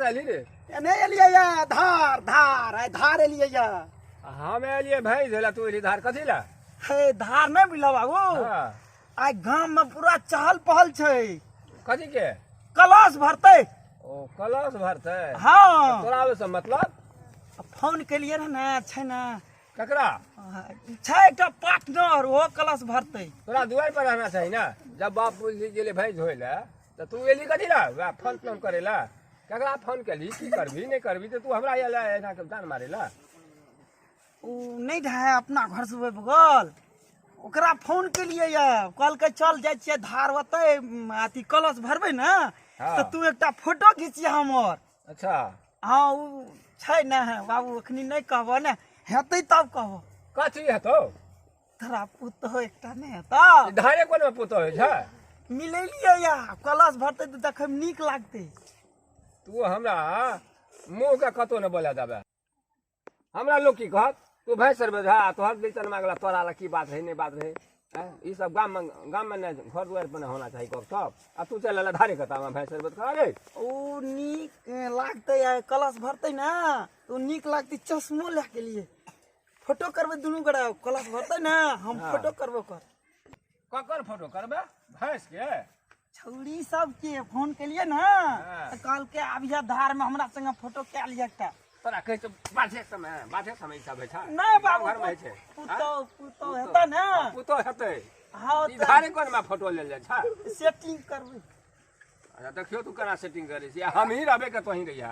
रहली रे एने एलियै या धार धार आइ धार एलियै या हम एलिए भैंस होला तू एली धार कथी ला हे धार नहि बुझलौ बाबू हाँ। आइ गाम में पूरा चहल पहल छै कथी के कलश भरते ओ कलश भरते हाँ तोरा ओहि से मतलब फोन केलिए रहे ने छै ने ककरा आ, छै एकटा पार्टनर ओहो कलश भरते तोरा दुआर पर रहना चाही ना जब बाप बुझि गेलै भैंस धोय ले तऽ तू एली कथी ला वएह फोन तोन करे ला ककरा फोन केली की करबी नहि करबी तऽ तू हमरा एला एना के जान मारे ला ओ नहि रहै अपना घरसँ ओहि बगल ओकरा फोन केलियै यऽ कहलकै चल जाइ छियै धार ओतै उम, अथी कलश भरबै ने हँ। तऽ तू एकटा फोटो घिचिया हमर अच्छा हँ ओ छै ने बाबू एखनी नहि कहबह ने हेतै तब कहबह कथी हेतौ तोरा पुतहो एकटा नहि हेतौ ई धारे कोन पुतो होइ छै मिलेलियै या कलश भरतै तऽ देखैमे नीक लागतै तू हमरा मुँह के कतौ ने बोला देबे हमरा लोग की कहत तू भाई सर बजा आ तोहर बेचन मांगला तोरा ला की बात रहे नहीं बात रहे हैं? ई सब गाम में गाम में ना घर दुआर पर ना होना चाहिए गप सब आ तू चल ला धारे कता में भाई सर बता अरे ओ नीक अ, लागतै आ कलश भरतै ने तऽ ओ नीक लागतै चश्मो लए के लिए फोटो करबै दुनू गोरा कलश भरतै ने हम फोटो करबो कर ककर फोटो करबे भैंस के छौरी सबके फोन केलिए ना हाँ। तऽ कहलकै आबिया धारमे हमरा संगे फोटो कए लिअ एकटा तोरा कहै छौ बाधे समय बाधे समय सब होइ छै नहि बाबू गाँव घरमे होइ छै पुतौ पुतौ हेतै ने हाँ, पुतो हेतै हँ ई तऽ धारे कोनमे फोटो लेल जाइ छै सेटिंग करबै अच्छा देखियौ तू केना सेटिंग करै छी हमही रहबै कतहीं रहिया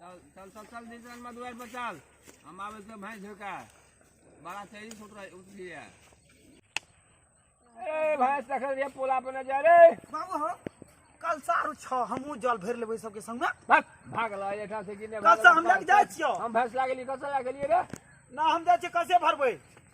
चल चल चल चल दिसन में दुआर पर चल हम आवे से भैंस झोका बड़ा तेजी से उतर उतरी है ए भैंस देखल रे पोला पर न जा रे बाबू हो कल सारू छ हमहूँ जल भरि लेबै सबके संगमे भाग भाग ला एठा से किने कल से हम लग जाइ छियौ हम भैंस लागली कसा लागली रे ना हम जाइ छियै कसे भरबै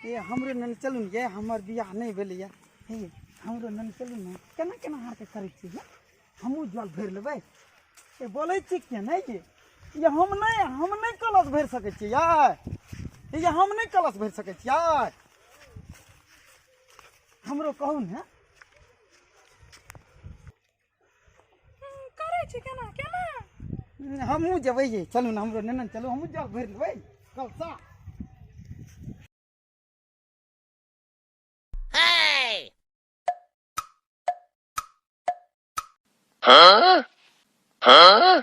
ये हमरो नन चलू ने ये हमर बियाह नहीं भेले ये हे हमरो नन चलू ने केना केना हार के करै छी ये हमहूँ जल भरि लेबै ये बोलै छी किया नहि ये ये हम नहि हम नहि कलश भरि सकै छी यार ये हम नहि कलश भरि सकै छी यार हमरो कहू ने करै छी केना केना हमहूँ जेबै ये चलू ने हमरो नेने चलू हमहूँ जल भरि लेबै कलसा Huh? Huh?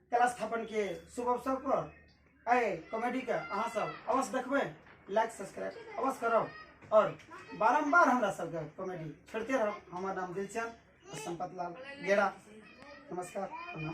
कला स्थापन के शुभ अवसर पर आए कॉमेडी के अहाँ सब अवश्य देखबै लाइक सब्सक्राइब अवश्य करब और बारम्बार हमरा सबके कॉमेडी छोड़ते रहब हमर नाम दिलचंद और संपत लाल गेरा नमस्कार प्रणाम।